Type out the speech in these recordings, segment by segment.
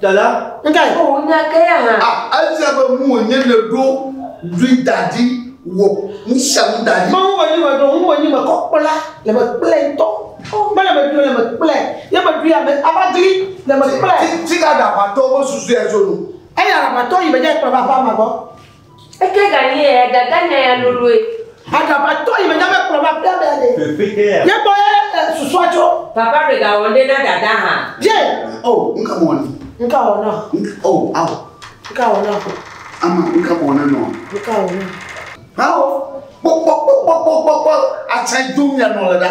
Dada. Nkae. O oh, nya ke ya hã. Ah, efia be mu wònye le ɖo lui daɖi wɔ nusia nu daɖi. Mawu be nyi me ɖo ŋu be nyi me kɔ kpla le me kple ŋutɔ. Mele me ɖo le me kple ye me ɖo ya me ava dli le me kple. Ti ti ka ɖaʋatɔ be susu ya tso nu. Eya ɖaʋatɔ yi me dze kpla va va ma gbɔ. Eke ganye ya dada nya ya loloe. Agaba tɔ yi me nyame kplɔ ma pia bea de. Ye gbɔ ye susua tso. Papa me ga wɔnde na dada ha. Ye. Oh nka mo wɔni. Nka wɔ na. Oh aw. Nka wɔ na. Ama nka mo wɔna nɔ. Nka wɔ na. Aw kpɔkpɔkpɔkpɔkpɔkpɔ atsa dum ya nɔ le da.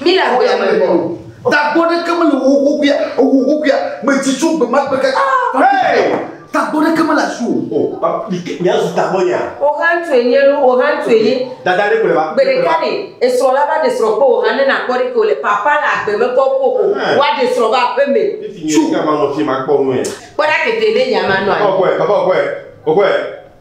Mi le agbe me bɔ. Tagbɔ ɖeke mele wo wokuya wo wokuya medzi tso gbe ma gbe ke. Tagbɔ ɖeke mele asi o. Miazu tagbɔ nya. Ohantu enye lu ohantu enye. Dada ɖe kplɔ va. Gbe ɖeka ɖe esrɔ la va ɖe srɔ kpɔ ohan ne nakpɔ ɖe ke o le papa le agbe me kɔ kpɔ o wa ɖe srɔ va aƒe me. Tsu. Kama nɔ fi ma kpɔ nu ɛ. Kpɔ ɖa kete ɖe nya ma nɔ anyi. Papa okɔɛ papa okɔɛ okɔɛ.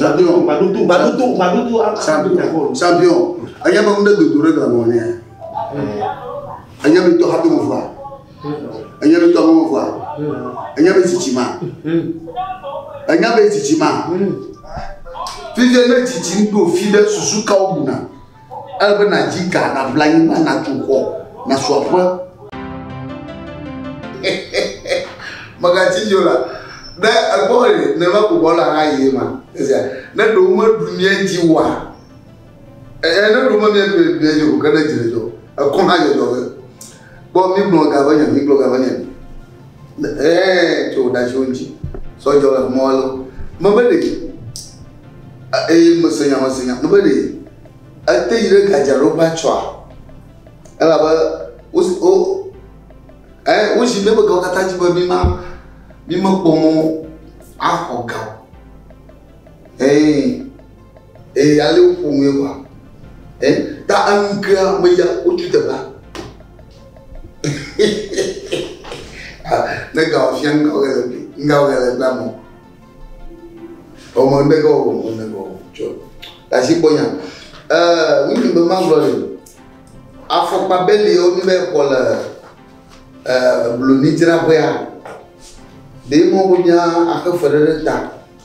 Sabiɔn. Sabiɔn. Sabiɔn. Anya be ŋɖe dodo ɖe gla nɔ nea? Anya be tɔ hato mo vɔa? Anya be tɔ hato mo vɔa? Anya be tsitsi ma? Anya be tsitsi ma? Fifia ne tsitsi ŋɖo fi ɖe susu kawo buna? Ele be nàdzi ga, nàbla anyigba, nàtu xɔ, nàsu aƒe. Mègatsi dzi o la, ne ekpɔ be nenema ko bɔla hã yie ma, esia, ne ɖewo meɖu mía dzi oa, ne ɖewo memiaɖu mía dzi o, ke ne dzi le dzɔ, ekɔ hã dzɔdzɔ be, Kpɔ mígblɔ ga be nyɔn, mígblɔ ga be nyɔn. Ɛɛ, tso ɖa tso ŋtsi. Sɔ jɔ le mɔ alo. Me be ɖe. Eye me se nya me se nya. Me be ɖe. Ete yi ɖe gadza ɖo va tsɔa. Ela be wo wo ɛɛ wo zi me be gawo kata dzi be mi ma mi me kpɔ mɔ axɔ ga. Ɛɛ. Ee, ale woƒo nue wa. Ɛ, ta aŋkea meya wotu teƒea. ne ga wòfia ŋga wòle le gbe, ŋga wòle le gbe amɔ. Ɔmɔ ne ga wòwɔ mɔ ne ga wòwɔ tsɔ. Tasi kpɔ nya. Ɛɛ, ŋutsu be ma zɔ le. Afɔkpa beli yewo mi be kɔ le ɛɛ blonidzraƒea. Ɖe mɔ wònya axe fe ɖe ɖe ta.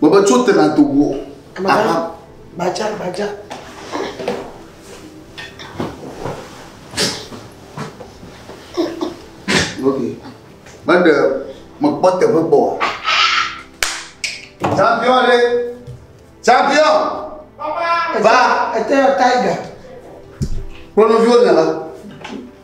Bɔbɔ tso te na do wo. Aha. Gbadza gbadza. Ok. Mende mekpɔ teƒe kpɔ. Champion le. Champion. Papa. Va. Ete tiger. Kpɔnɔviwo nana.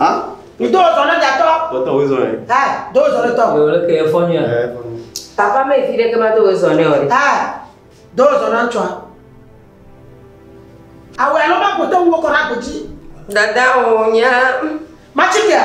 Ah? Mi do zɔ ne datɔ. Dɔtɔ wo zɔ ye. Ɛ do zɔ ne tɔ. Wòle ke efɔ nyuie. Ɛ efɔ nyuie. Papa mi fi ɖe ke ma do wo zɔ ne o. Ɛ do zɔ ne ŋtsɔ. Awɔ alo ma kpɔtɔ wo kɔ na kpɔtsi. Dada o nya. Ma tsi kia.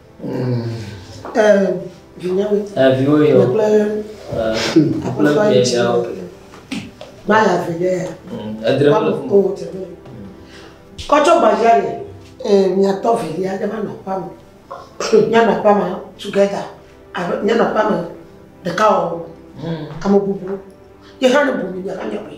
Kɔtsɔ gbadzia le miatɔ vilia ɖe va nɔ aƒea me. Mianɔ aƒea me together. Mianɔ aƒea me ɖeka wɔwɔ. Ame bubu ye hã ne bu mi mia va nyae.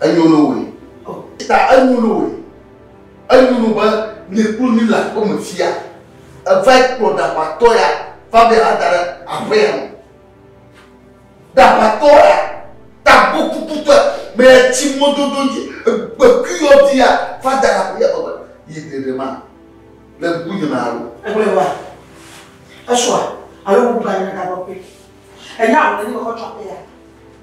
Enyo no woe. Ta enyo no woe. Enyo no be nye kplu mi le aƒe me fia. Eva yi kplɔ ɖaʋatɔ ya va be yeava da ɖe aƒe ya me. Ɖaʋatɔ ya tagbɔ kukutɔe be yatsi mɔdodo dzi gbekui yɔdi ya va da ɖe aƒe ya me be yi ɖeɖe ma le ŋkunye me alo. Egblɔe va. Esɔa alo ŋugbã nye ɖaʋakɔe. Enya wòle nye me kɔ tso aƒe ya.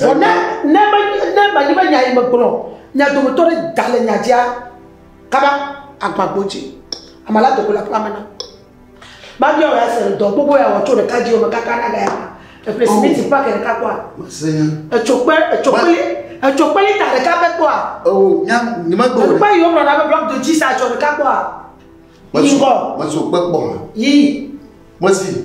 Vɔ ne, ne, me, ne menye be nya yi megblɔ, mia dometɔ ɖe gale nya dzia, kaba agbã gbo dzi. Ame la do go le aƒea me na. Babia wòya se dɔ gbogbo ya wɔ tso ɖeka dzi me kaka na gaya ma. Eƒle simiti oh. pake ɖeka kpɔa. Etso kpe, etso kpeli, etso kpeli ta ɖeka pe kpɔa. Oh, nya, nye megblɔ. Ekpe yi womlɔ na be blɔk do dzi sa etso ɖeka kpɔa. Yi ŋgɔ. Metso kpe kpɔ. Yi. Mesi.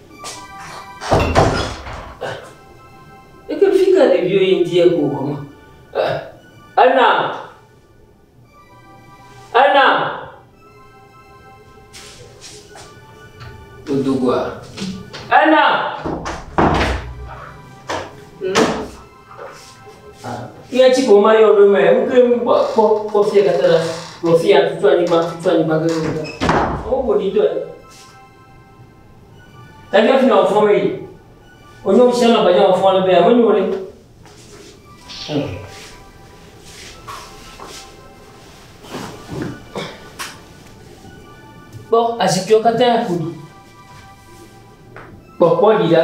Eke fi ka ɖeviwo yi ŋdi eko hɔ ma. Ena. Ena. Dodo gua. Ena. Nye ti ko ma yɔ ɖo mɛ, ŋke ŋu kpɔ kpɔ kpɔ fia katã la, kpɔ fia tutu anyigba tutu anyigba gɛgɛgɛ. Wo ko ni dɔ. Tagya fina o fɔm eyi. Onye o shana bagya o fɔm be ame nyo le. Kpɔ azikpiwo katã ƒoɖi. Kpɔ kpɔ ɖi ɖa.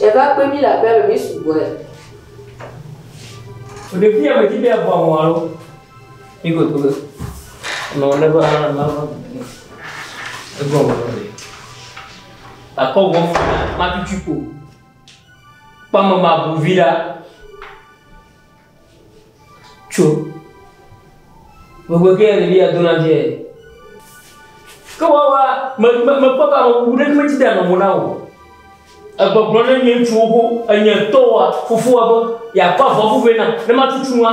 Eva kpe mí le aƒea me, mí sugbɔe. Ɖevi ya me dzi be abo àwọn alo. Mí ko to. Non ne va la va. Ego mo. Akɔ wɔ fa ma tutu ko. Pamama bu vida. Tso. Megbe kee ɖevia dona vie. Ke woawoa, me, me, mekpɔ be amebubu ɖeke medzi ɖe nɔ mo na wò. Egbɔgblɔ ne nye ŋutsuwo ho, enye tɔwoa, fofowoa be, yeakɔ avɔvu vɛ nam, ne matutu nua.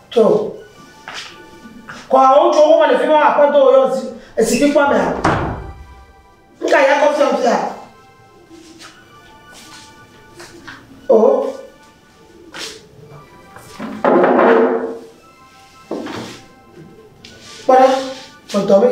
Tso. Kɔa wotso wo le fi ma akpɔtɔ yɔ esi fi kpɔ mea. Nka ya kɔ fiam fia. O. Kpɔɖa, tɔtɔ mi.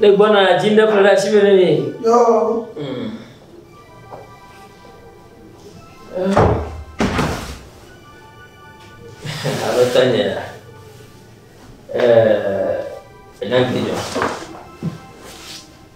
Ne gbɔna dzi ne ƒle asi me ne mi. Yo. Mm. Alo tanya. Eh, enagbe jo.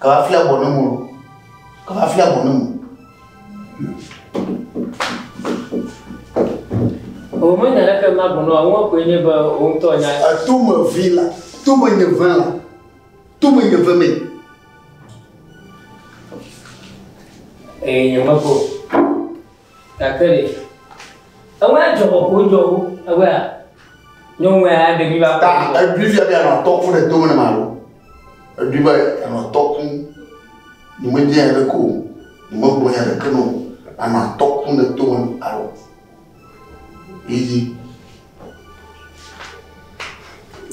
Kaba fia bɔ ne mo. Kaba fia bɔ ne mo. O me nya leke ma bono a wo ko nye be o ŋtɔ nya. A to me vi la. To me nye ve la. To me nye ve me. E nye me ko. Gake ɖe ewɔe adzɔ kɔkɔ wodzɔ wo ewɔea nyɔnua ya ɖevi va kɔ. Ta eɖui fia be anɔ tɔku ɖe dome ne ma ɖo. Eɖui be anɔ tɔku ni me dze ɖe ko ni me gblɔ ya ɖeke no anɔ tɔku ne dome alo. Yiyi.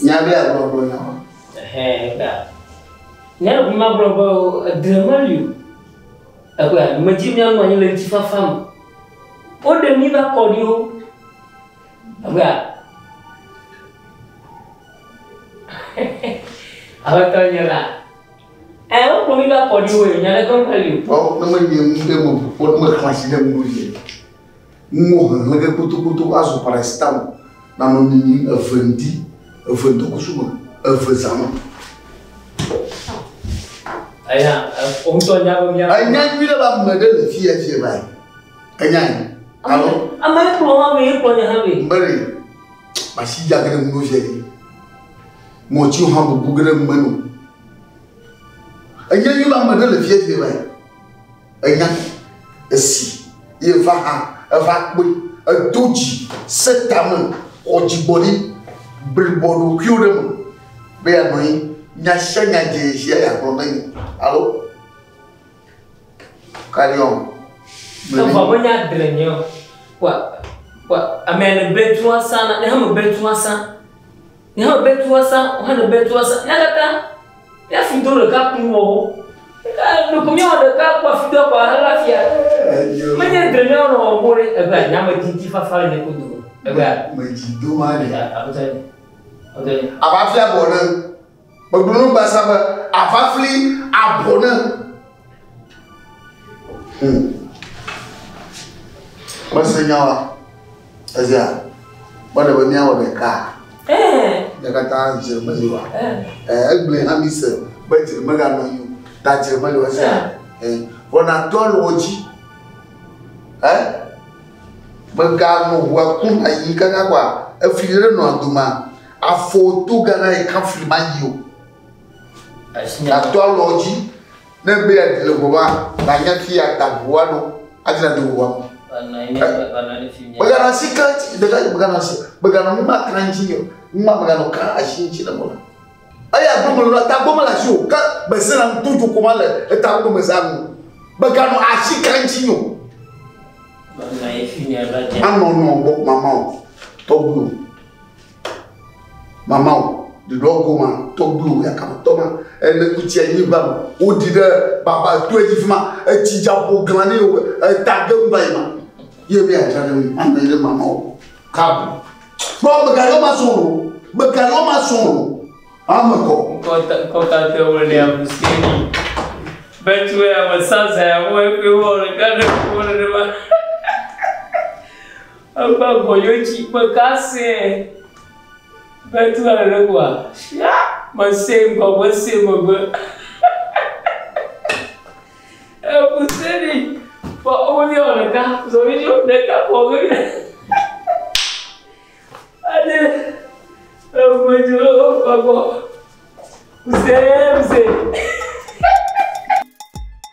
Nya be agblɔ gblɔ nya. Ehe ta. Ne ma gblɔ be edre meli o. Ekpɔe ale medzi míanɔ anyi le ŋutifafa me. Woɖe mí va kɔɖiwo. Ekpɔe ale. Aƒetɔ nye la. Ɛ wokplɔ mí va kɔɖiwo ye nya ɖe kɔnkɔli o. Ɔ ne menye nu ɖe meƒo ne mexlã si ɖe nu ye. Ŋuwò hlẽhlẽ ge kpotokpoto azu paracetamol, nanɔ nyinyi eve ŋdi, eve ŋdɔkusu me, eve zã me. Enya, wò ŋutɔ nya be mía. Enya nyui ɖe be ame ɖe le fiya vie va yi. Enyae. Alo? Ame ɖe kplɔ hã be, ekplɔ nye hã be. Ŋbe ɖe, masi dza ge ɖe ŋuɖo vie ɖe. Ŋɔtsiwo hã bubu ge ɖe ŋme no. Enya nyui be ame ɖe le fiya vie va yi. Ènya nɛ. Esi yeva hã, èva kpɔe. Èdo dzi, sẽ tame, xɔ dzigbɔɖi, blibɔ ɖokuiwò ɖe eme be yeanɔ anyi nya sia nya dze sia yeagblɔ na mi. Alo? Carry on. Gblɔe Evɔ be nya dre nye o. Kpɔ, kpɔ, amea le bɛtua sa na, ne hame bɛtua sa. Nyae be tua sa, wohana be tua sa. Nyakaka, ya fi do ɖeka kun wɔ wo. Ɖeko míawɔ ɖeka kpɔ fi do kpɔ ala fia. Menye dre míawɔ nɔ wɔ bo ɖe ebe a nyame ti ti fafa le ne kodo. Ebe a. Me ti do ma ne. Ya, a bota ne. A bota ne. A va fia bo ne. Me gblɔ no ba sa be a va fli a bo ne. Hmm. Mese nya wa. Ezia, mele be míawɔ ɖeka. Ne katã dzre meli wa. Egblẽ hã mi se be dzre meganɔ anyi o. Ta dzre meli wa sia. Wɔna tɔ le wo dzi. Eh? Meganɔ ʋua kum ayi kaka kɔa, efi ɖe nɔ doma. Afɔ to gana yi kan fli ma yi o. Gato alɔ dzi ne be yeaɖi le ʋɔa nanya fi yeada ʋɔa ɖo adzra do ʋɔa me. Megana si kan ti ɖeka megana si megana nu ma kan dzi o nu ma megana kan asi dzi le mɔna. Eya gbɔmɔ lɔ ta gbɔmɔ la si o ke bese na tu tu koma le eta gbɔ me sa nu. Megana asi kan dzi o. Anɔ nɔ gbɔ mama o. Tɔgbu. Mamao, ɖeɖɔ goma tɔgbuiwo yakametɔ ma ene kutsi anyigba me. Woɖi ɖe baba to edzi fi ma. Etsi dza ƒo glã ne yewo eta ge ŋu va yi ma. Ye mi adza ɖe mi anɔ yi ɖe mamao. Kabu. Kpɔ megaɖo ma sɔn o. Megaɖo ma sɔn o. Ame kɔ. Kɔta kɔta tɛ wo le abusi ni. Bɛtu ya me sasa ya wo ekpe wo le kade wo le ne ma. Egbe vɔ yo tsi kpe ka sɛɛ be tu a ɖe kua shia me sɛ ŋgɔ me sɛ megbe ebu sɛ ni fɔ omo ni ɔne ka zɔ mi ni ɔne ka fɔ omo ni ade ebu edzo lo o fɔ gbɔ bu sɛ bu sɛ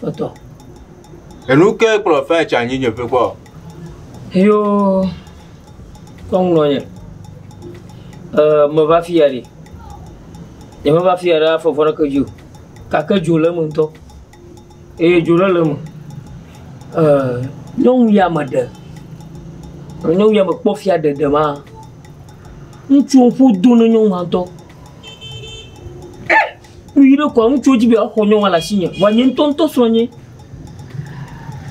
tɔtɔ. Enu ke kplɔ fɛ tsa nyi nye ƒe kpɔ. Yo kɔŋlɔ nye. Ɛ me va fiya ɖi. Nye me va fiya ɖe afɔ vɔɖe ke dzo. Kake dzo le me ŋutɔ. Eye dzo ɖe le me. Ɛ nyɔnu ya me ɖe. Nyɔnu ya me kpɔ fia ɖe ɖe ma. Ŋutsu ƒu do ne nyɔnu ŋutɔ. Kpui ɖe kɔa ŋutsuwo dzi be woaxɔ nyɔnua le asinye, vɔa nye ŋutɔ ŋutɔ srɔ̃ nye.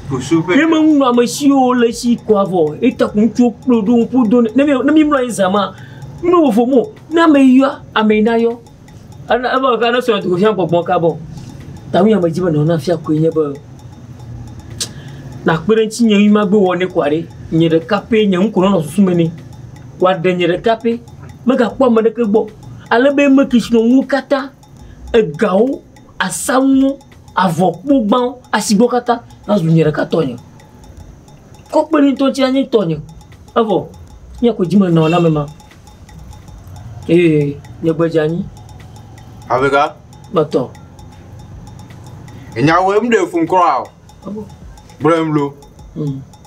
Ye me ŋunɔ ame siwo le esi kɔa vɔ, eta ko ŋutsuwo kplɔe ɖo ŋu ƒo do nɛ. Ne mi ne mi mlɔ anyi zã ma, nu vovo mo. Ne ame yɔ, ame nayɔ. Ena ebe eka ne srɔ̃ dogo fia gbɔgbɔ ka bɔ. Ta nu ya me dzi be nɔna fia koe nye be nakpe ɖe ŋuti nye ŋutɔ magbe wɔ nɛ kɔa ɖe nye ɖeka pɛ nye ŋu ko nɔnɔ susu me nɛ. Wɔ ɖe nye ɖeka pɛ. megakpɔ ame aɖeke gbɔ o. Ale be eme ke si nɔ nuwo katã, egawo, asanuwo, avɔkpogbawo, asigbewo katã nazu nye ɖeka tɔnye. Kɔkpeli ŋutɔ tsɛ anye tɔnye. Evɔ nye ko dzi menɔ na ame ma. Eye nye gbe dze anyi. Avega. Kpɔtɔ. Enyawoe, ŋɖe fun kura o. Gblɔm lo.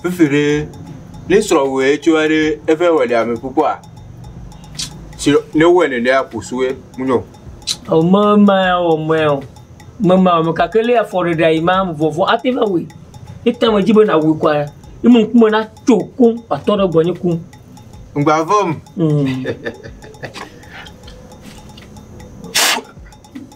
Fifi ɖe ne srɔ̃wɔe tso aɖe eƒe wɔɖi ame kpukpua. Si ne wɔe ne ɖea kusue munyɔ. O me ma o me o. Me ma o me kake le afɔ ɖe ɖe ima vɔvɔ ate va wui. Ete me dzi be na wui kwa. Ime ŋkume na tso ku atɔ ɖe gbɔnyi ku. Ŋgba vɔm. Mm.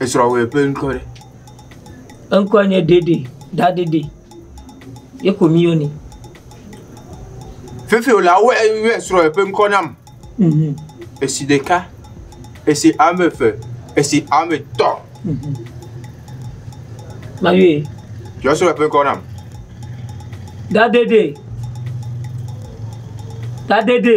Esrɔ̃wɔe ƒe ŋkɔ ɖe? Eŋkɔe nye Dede, Dadede. Ye ko míyɔnɛ. Fefewɔlawo yɔ esrɔ̃wɔe ƒe ŋkɔ nam. Mhm. Esi ɖeka, esi ame eve, esi ame etɔ̃. Mhm. Mayɔe. Yɔ esrɔ̃wɔe ƒe ŋkɔ nam. Dadede. Dadede.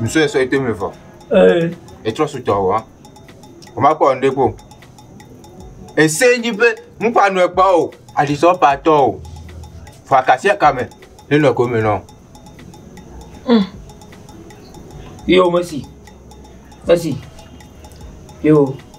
Nsɔe sɔ ete me vɔ. Ee. Etrɔ so tɔ wa. O ma kɔ nde ko. Ese nyi be mu pa no ekpa o. Ali so pa tɔ o. Fa kasia kame. Ne no ko me no. Mm. Yo mesi. Mesi. Yo.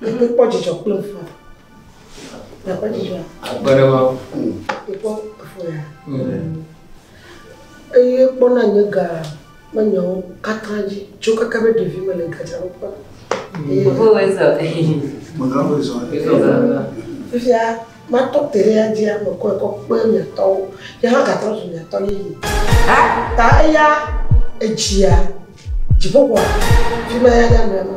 Mekpɔ dzidzɔ kple ŋu. Mekpɔ dzidzɔ. Akpe ɖe ma. Mekpɔ efu ya. Eye kpɔ na nye ga menyawo katã dzi. Tso kaka be ɖevi me le gadza wo kpɔ. Evo wɔ ezɔ. Mega wɔ ezɔ. Fifia matɔ te ɖe ya dzi ame kɔ ekɔ kpe miatɔwo. Ye hã gatrɔ zu miatɔ yeye. Ta eya edzia dziƒoxɔa. Fi ma ya ya mea ma.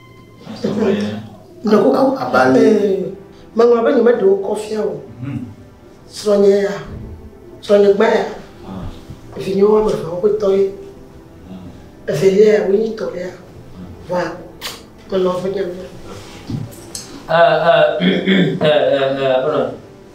Meŋlɔ be nyemeɖe wo kɔ fia o. Hmm. Srɔ̃nye ya, srɔ̃nye gba ya, ah. vinye wo ame eveawo ƒetɔ ye. Hmm. Evelia ya, wonyi tɔ ya. Hmm. Vɔa, melɔ be nyamia. Eh, eh, eh,